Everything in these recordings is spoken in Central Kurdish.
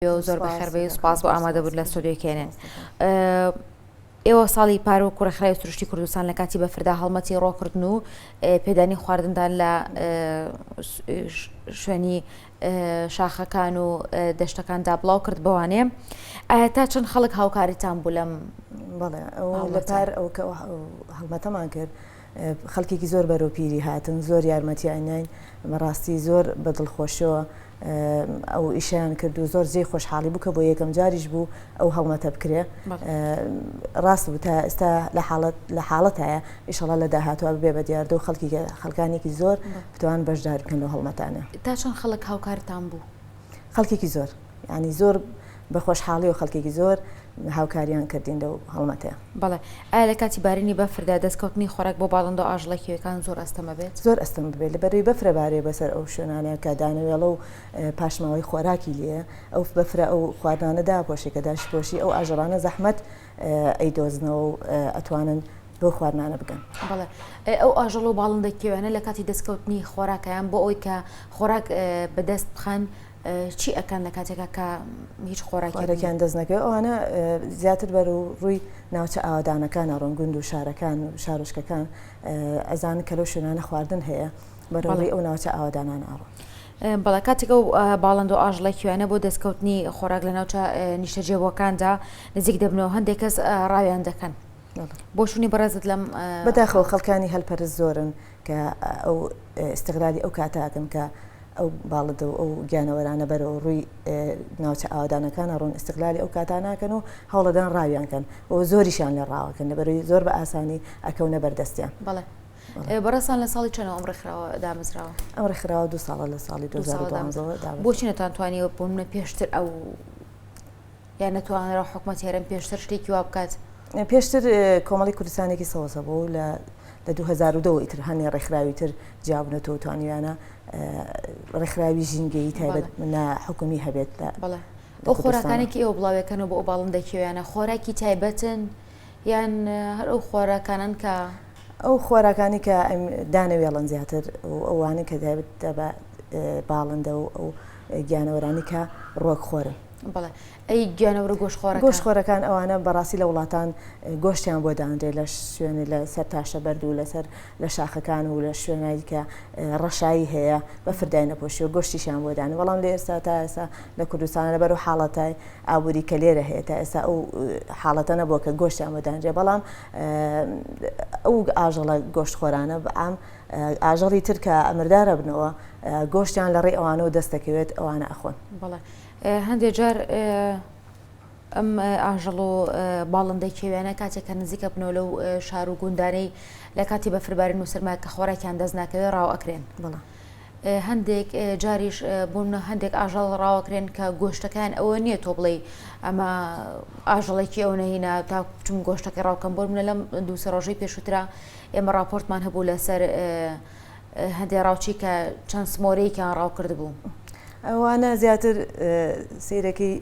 بێو زۆر بەخێربێی و سپاس بۆ ئامادەبوون لە ستۆدیۆی کێنێن ئێوە ساڵی پار وەکو ڕێکخراوی سروشتی کوردستان لە کاتی بەفردا هەڵمەتی ڕۆکردن و پێدانی خواردندان لە شوێنی شاخەکان و دەشتەکاندا بڵاو کرد بەوانێ ئایا تا چەند خەڵک هاوکاریتان بوو لەم بەڵێ لەپار ئەو کە هەڵمەتەمان کرد خەڵکێکی زۆر بەرەو پیری هاتن زۆر یارمەتیانین بەڕاستی زۆر بە دڵخۆشەوە ئەو ئیشیان کرد و زۆر جێ خۆشحاڵی بوو کە بۆ یەکەم جاریش بوو ئەو هەڵمەتە بکرێ ڕاست بوو تا ئێستا لە حاڵەت لە حاڵەت هەیە ئیشەڵە لە داهاتوە بێ بە دیاردە و خەڵکی خەڵکانێکی زۆر بتوان بەشدار بکەن و هەڵمەتانە تا چۆن خەڵک هاوکارتان بوو خەڵکێکی زۆر یانی زۆر بە خۆشحاڵی و خەڵکێکی زۆر هاوکاریان کردین لەو هەڵمەتێ بەڵێ ئایا لە کاتی بارینی بەفردا دەستکەوتنی خۆراک بۆ باڵندە و ئاژڵەکیەکان زۆر ئەستەمە بێت زۆر ئەستم بێت لە بەروی بەفرە بارێ بەسەر ئەو شوێنانە کە دانەوێڵە و پاشماوەی خۆراکی لێ ئەو بەفرە ئەو خواردانەدا پۆشی کە داشت پۆشی ئەو ئاژەڵانە زەحمەت ئەی دۆزنەوە و ئەتوانن بۆ خواردانە بگەن بەڵێ ئەو ئاژەڵ و باڵندە کێوێنە لە کاتی دەستکەوتنی خۆراکیان بۆ ئەوی کە خۆراک بەدەست بخەن چی ئەکەن لە کاتێکا کە هیچ خۆراکیان دەست نەکەێت ئەوانە زیاتر بەر و ڕووی ناوچە ئاوادانەکان ئەڕۆن گوند و شارەکان و شارۆشکەکان ئەزان کە لە شوێنانە خواردن هەیە بەڕڵی ئەو ناوچە ئاوادانان ئاڕۆن. بەڵە کاتێکە و باڵند و ئاژڵە کوێنە بۆ دەستکەوتنی خۆراک لە ناوچە نیشتەجێبووەکاندا نزیک دەبنەوە هەندێک کەس ڕاویان دەکەن. بۆ شوونی بەڕێزت لەم بەداخەوە خەڵکانی هەلپەرز زۆرن کە ئەو ئیستغلالی ئەو کاتە ئەکەن کە ئەو باڵندە و ئەو گیانەوەرانە بەرەو ڕووی ناوچە ئاوادانەکانە ڕوون ئیستغلالی ئەو کاتا ناکەن و هەوڵەدان ڕاویان کەن و زۆریشیان لە ڕاوەکەن لەبەروی زۆر بە ئاسانی ئەکەونە بەردەستیان بەڵێ بەڕێسان لە ساڵی چەنەوە ئەم ڕێکخراوە دامەزراوە ئەم ڕێکخراوە دو ساڵە لە ساڵی دو بۆچینەتان توانی بۆ منە پێشتر ئەو یان نەتوانرا حکومەت هێرم پێشتر شتێکی وا بکات پێشتر کۆمەڵی کوردستانێکی سەوەسە بۆ لە لە 2010 ئیتر هەنێ ڕێکخراوی تر جیابنەوە توانیویانە ڕێکخراوی ژینگەی تایبەت منە حکومی هەبێت بەڵێ بۆ خۆراکانێکی ئێوە بڵاوەکەنەوە بۆ ئەو باڵم دەکیویانە خۆراکی تایبەتن یان هەر ئەو خۆراکانن کە ئەو خۆراکانی کە دانەوێڵن زیاتر و ئەوانە کە دایبت بە باڵندە و ئەو گیانەوەرانی کە ڕۆک خۆرن بەڵێ ئەی گیانەورە گۆش خۆرە گۆش خۆرەکان ئەوانە بەڕاستی لە وڵاتان گۆشتیان بۆ دانرێ لە شوێنی لە سەر تاشە بەرد و لەسەر لە شاخەکان و لە شوێنایی کە ڕەشایی هەیە بە فردای نەپۆشی و گۆشتیشیان بۆ دانی بەڵام لە ئێستا تا ئێسا لە کوردستان لەبەر و حاڵەتای ئابووری کە لێرە هەیە تا ئێستا ئەو حاڵەتە نەبووە کە گۆشتیان بۆ دانرێ بەڵام ئەو ئاژەڵە گۆشت خۆرانە بەعام ئاژەڵی ترکە ئەمردارە بنەوە گۆشتیان لە ڕێ ئەوانەوە دەستەکەوێت ئەوانە ئەخۆن بەڵێ هەندێک جار ئەم ئاژەڵ و باڵندەی کێویانە کاتێک کە نزیکە بنەوە لەو شار و گوندانەی لە کاتی بەفربارین و سرما کە خۆراکیان دەست ناکەوێت ڕاو ئەکرێن بڵە. هەندێک جاریش بوون هەندێک ئاژەڵ ڕاوەکرێن کە گۆشتەکان ئەوە نییە تۆ بڵێ ئەمە ئاژەڵێکی ئەو نەهینا تا بچم گۆشتەکە ڕاوکەم بۆ منە لەم دووسە ڕۆژەی پێشوترا ئێمە راپۆرتمان هەبوو لەسەر هەندێ ڕاوچی کە چەند سمۆرەیەکیان ڕاو کردبوو. ئەوانە زیاتر سیرەکەی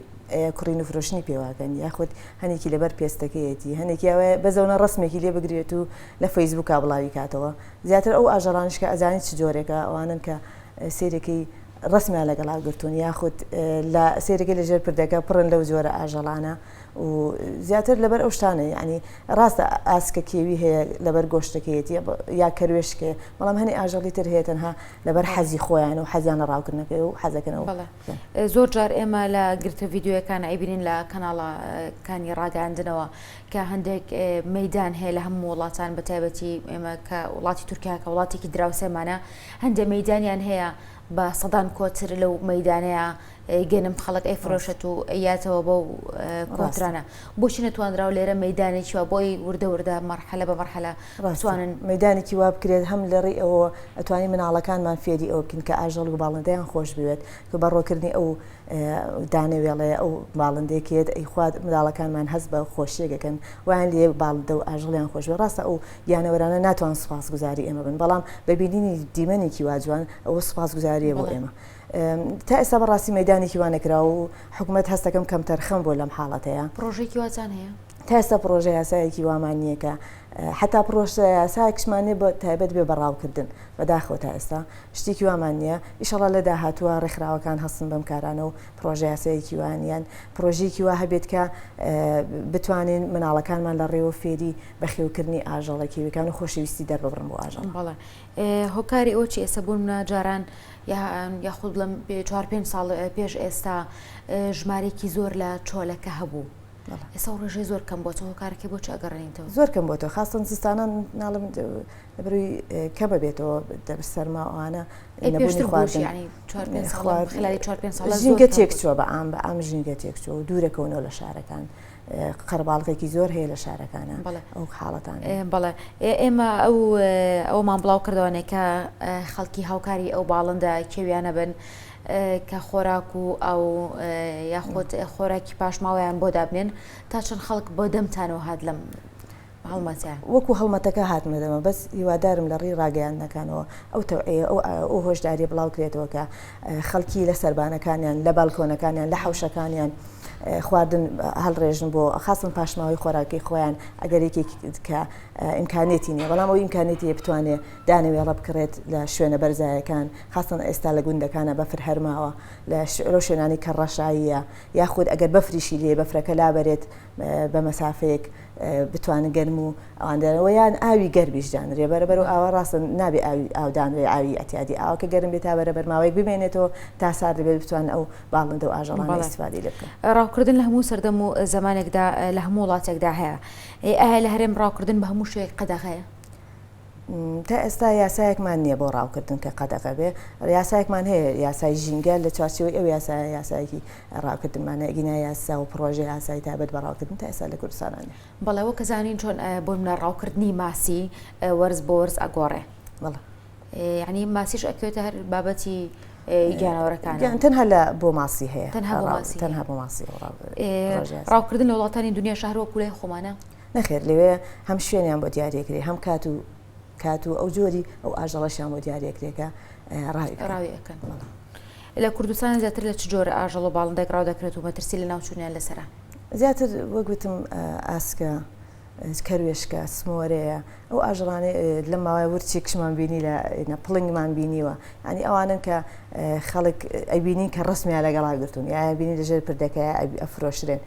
کڕین و فرۆشنی پێواکەن یاخود هەنێکی لەبەر پێستەکەیەتی هەنێکی ئەوە بەزەونە ڕسمێکی لێ بگرێت و لە فەیسبووکا بڵاوی کاتەوە زیاتر ئەو ئاژەڵانش کە ئەزانی چ جۆرێکە ئەوانن کە سیرەکەی ڕسمیان لەگەڵا گرتوون یاخود لە سێرەکە لەژێر پردەکە پڕن لەو جۆرە ئاژەڵانە و زیاتر لەبەر ئەو شتانە یعنی ڕاستە ئاسکە کێوی هەیە لەبەر گۆشتەکەیەتی یا کەروێشکێ بەڵام هەنی ئاژەڵی تر هەیە تەنها لەبەر حەزی خۆیان و حەزیانە ڕاوکردنەکە و حەزەکەنەوە زۆر جار ئێمە لە گرتە یددیوەکان ئەیبینین لە کەناڵەکانی ڕاگەاندنەوە کە هەندێک مەدان هەیە لە هەموو وڵاتان بە تایبەتی ئێمە کە وڵاتی تورکیا کە وڵاتێکی دراوسێمانە هەندێک مەدانیان هەیە بە سەدان کۆتر لەو مەیدانەیە گەنم خەڵک ئەی فرۆشت و یاتەوە بەو کۆترانە بۆچی نەتوانراوە لێرە مەدانێکی وە بۆی وردە وردە مەرحەلە بە مەرحەلە ڕاستوانن مەدانێکی وا بکرێت هەم لە ڕێ ئەوە ئەتوانی مناڵەکانمان فێری ئەو بکن کە ئاژەڵ و باڵندەیان خۆش بوێت کە بەڕۆکردنی ئەو دانەوێڵەیە ئەو باڵندێکێت ئەیخوات مناڵەکانمان هەست بە خۆشیەکەکەن وان لێ باڵدە و ئاژڵیان خۆشوە ڕاستە ئەو گیانەوەرانە ناتوان سوپاس گوزاری ئێمە بن بەڵام بە بینینی دیمەنێکی واجوان ئەوە سوپاس گوزاریە بۆ ئێمە تا ئێستا بەڕاستی مەدانێکی وانەکرا و حکوومەت هەستەکەم کەم تەرخەم بۆ لەم حاڵەتەیە پرۆژێکی وازان هەیە تا ئێستا پرۆژە یاسایەکی وامان نییە کە حتا پرۆشە یاسایکشمانێ بە تایبەت بێ بەڕاوکردن بەداخۆ تا ئێستا شتێکی وامان نییە ئیشەڵا لە داهاتوە ڕێکخراوەکان هەستن بەم کارانە و پرۆژە یاسایەکی وانیان پرۆژێکی وا هەبێت کە بتوانین مناڵەکانمان لە ڕێوە فێری بەخێوکردنی ئاژەڵە کێویەکان و خۆشەویستی دەرببڕن بۆ ئاژەڵ بەڵێ هۆکاری ئەوە چی ئێستا بوون منە جاران یاخود لەم چوار پێ ساڵ پێش ئێستا ژمارێکی زۆر لە چۆلەکە هەبوو ئێستا ڕژێ زۆر کەم بۆ هۆکارەکە بۆ چاگەڕێنیتەوە زۆر کەم بۆ تۆ خاستن زستانان ناڵم لەبروی کەمە بێتەوە دەبر سەرماوانە ژینگە تێکچوە بە ئام بە ئام ژینگە تێکچوە و دوورەکەونەوە لە شارەکان قەرباڵغێکی زۆر هەیە لە شارەکانە ئەو حاڵەتان بەڵێ ئێمە ئەو ئەومان بڵاو کردوانێکە خەڵکی هاوکاری ئەو باڵندە کێویانە بن کە خۆراک و ئەو یاخۆت خۆراکی پاشماوەیان بۆ دابنێن تا چەند خەڵک بۆ دەمتانەوە هاات لەم هەڵمەتە. وەکو هەڵمەتەکە هاتمە دەمە بەس هیوادارم لە ڕێی ڕاگەیاندنەکانەوە ئەو تەوعیە ئەو هۆشداریە بڵاو کرێتەوە کە خەڵکی لە سەربانەکانیان لە بالکۆنەکانیان لە حەوشەکانیان خواردن هەڵڕێژن بۆ خاستن پاشماوەی خۆراکی خۆیان ئەگەر یەکێک کە ئیمکانێتی نیە بەڵام ئەو ئیمکانێتی بتوانێت دانەوێ ڕەبکڕێت لە شوێنە بەرزایەکان خاستن ئێستا لە گوندەکانە بەفر هەرماوە لە شعرۆ شوێنانی کە ڕەشاییە یاخود ئەگەر بەفریشی لێ بەفرەکە لابەرێت بە مەسافەیەک بتوانن گەرم و ئەواندەرەوە یان ئاوی گەرمیش دانرێ بەرەبەر و ئاوا ڕاستە نابێ ئاودانرێ ئاوی ئەتیادی ئاوکە گەرم بێت تا بەرەبەر ماوەیەک بمێنێتەوە تا سار دەبێت بتوان ئەو باڵندە و ئاژەڵان ئەسفادی لە بکەن ڕاوکردن لە هەموو سەردەم و زمانێکدا لە هەموو وڵاتێکدا هەیە ئەهە لە هەرێم ڕاوکردن بە هەموو شوێک قەدەغەیە تا ئێستا یاسایەکمان نییە بۆ ڕاوکردن کە قەدەغە بێ یاسایەکمان هەیە یاسای ژینگە لە چوارچەوەی ئەو یاسا یاسایەکی ڕاوکردنمانە گینا یاسا و پرۆژه یاسای تابەت بە ڕاوکردن تا ئێستا لە کوردستانانە بەڵەوە کە زانین چۆن بۆ منە ڕاوکردنی ماسی وەرز بۆ وەرز ئەگۆڕێ بەڵە یعنی ماسیش ئەکوێتە هەر بابەتی گیانەوەەکان یان تەنها لە بۆ ماسی هەیە تەنها بۆ ماسی ڕاوکردن لە وڵاتانی دنیا شار وەکوولای خۆمانە نەخێر لەوێ هەم شوێنیان بۆ دیارەکرێ هەم کات و کات و ئەو جۆری ئەو ئاژەڵەشیان بۆ دیارەکرێکە ڕاویکەن لە کوردستان زیاتر لە چ جۆرە ئاژەڵ و باڵندەک ڕاو دەکرێت و مەترسی لە ناوچوونیان لەسرە زیاتر وەگوتم ئاسکە کەروێشکە سمۆرەیە ئەو ئاژەڵانێ لە ماوای ورچی کشمان بینی لە پڵنگمان بینیوە ئەنی ئەوانن کە خەڵک ئەبینین کە ڕسمیان لەگەڵا گرتون یا بینی لەژێر پردەکە ئەفرۆشرێن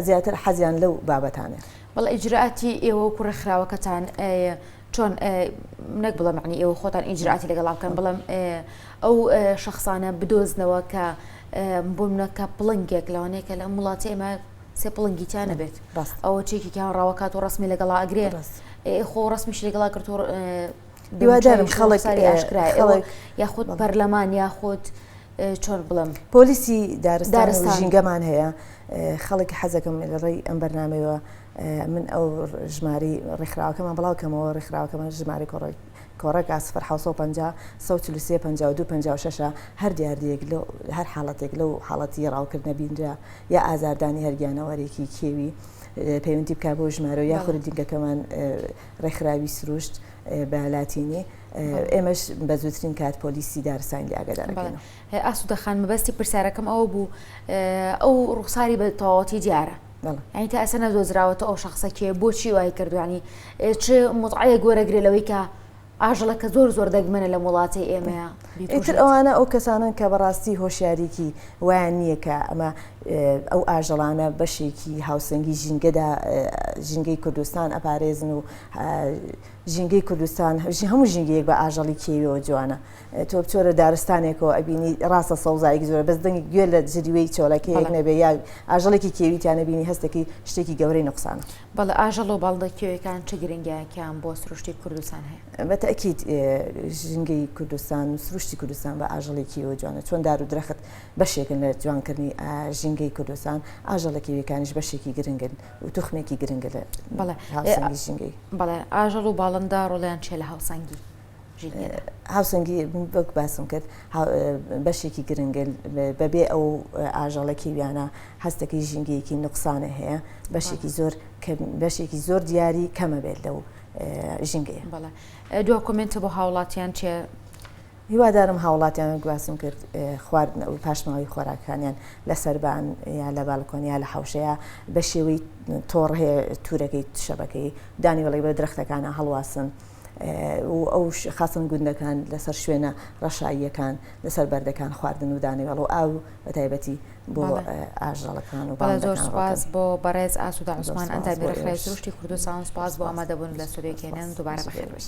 زیاتر حەزیان لەو بابەتانە. بەڵێ ئیجرئاتی ئێوە وەکو ڕێکخراوەکەتان چۆن نەک بڵێ معنی ئێوە خۆتان ئیجرئاتی لەگەڵا بکەن بڵێم ئەو شخصانە بدۆزنەوە کە بۆمنەکە پڵنگێک لەوانەیە کە لەم وڵاتی ئێمە سێ پڵنگی تیا نەبێت ئەوە چێکی کیان ڕاوکات و ڕسمی لەگەڵا ئەگرێ خۆ ڕسمیش لەگەڵا کرد دووادارم خەڵک یاخود پەرلەمان یاخود چۆن بڵێم پۆلیسی دارستان ژینگەمان هەیە خەڵک حەزەکەم لە ڕێی ئەم بەرنمەوە من ئەو ژماری ڕێکخراوەکەمان بڵاوکەمەوە ڕێکخراوەکەمان ژماری کۆڕێک کۆڕێک ئاسفەر 1950 هەر دیاردەیەک لە هەر حاڵەتێک لەو حاڵەتی ڕاوکردنە بینرا یا ئازاردانی هەرگیانەوەرێکی کێوی پەیوەندی بک بۆ ژمارە یاخود دیگەکەمان ڕێکخراوی سروشت بە لاتینی، ئێمەش بە زووترین کات پۆلیسی دارستانیی ئاگادار دەکەینەوە. ئاسوودە خان، مەبەستی پرسیارەکەم ئەوە بوو، ئەو ڕووخساری بە تەواوەتی دیارە؟ بەڵێ. یانی تا ئێستا نەدۆزراوەتەوە ئەو شەخسە کێیە، بۆچی وای کردووە، یانی چ متعەیەک وەرەگرێ لەوەی کە ئاژەڵەکە زۆر زۆر دەگمەنە لەم وڵاتەی ئێمەیە؟ ئیتر ئەوانە ئەو کەسانەن کە بەڕاستی هۆشیاریی وایان نییە کە ئەمە ئەو ئاژەڵانە بەشێکی هاوسەنگی ژینگەدا ژینگەی کوردستان ئەپارێزن و ژینگەی کوردستان هەموو ژینگەیەک بە ئاژەڵی کێویەوە جوانە تۆ بچۆرە دارستانێکەوە ئەبینی ڕاستە سەوزایەک زۆر بەس دەنگی گوێ لە جریوەی چۆلەکەیەک نەبێ یا ئاژەڵێکی کێویتیانە بینی هەستێکی شتێکی گەورەی نقصان بەڵێ ئاژەڵ و باڵندە کێویەکان چ گرنگییەکیان بۆ سروشتی کوردستان هەیە؟ بە تەئکید ژینگەی کوردستان و سروشتی کوردستان بە ئاژەڵی کێوی جوانە چۆن دار و درەخت بەشێکن لە جوانکردنی ژینگەی کوردستان ئاژەڵە کێویەکانیش بەشێکی گرنگن و توخمێکی گرنگە لە بەڵێ هاوسەنگی ژینگەی. بەڵێ ئاژەڵ و باڵندە ڕۆڵیان چیە لە هاوسەنگی؟ هاوسەنگی وەک باسم کرد بەشێکی گرنگە بەبێ ئەو ئاژەڵە کیویانە هەستەکەی ژینگەیەکی نقصانە هەیە بەشێکی زۆر بەشێکی زۆر دیاری کەمە بێت لەو ژینگەیە بەڵێ دو کۆمنتە بۆ هاوڵاتیان چێ هیوادارم هاوڵاتیان گواسم کرد خواردن ئەو پاشماوی خۆراکانیان لە سەربان یا لە بالکۆنیا لە حوشەیە بە شێوەی تۆڕ هەیە تورەکەی شەبەکەی دانی بڵی بە درختەکانە هەڵواسن و ئەو خاستن گوندەکان لەسەر شوێنە ڕەشاییەکان لەسەر بەردەکان خواردن و دانەوێڵ و ئاو بە تایبەتی بۆ ئاژەڵەکان و زۆر سپاس بۆ بەڕێز ئاسودا عوسمان ئەندامی ڕێکخراوی سروشتی کوردستان سپاس بۆ ئامادەبوون لە سوودێک هێنان دووبارە بەخێر بێت.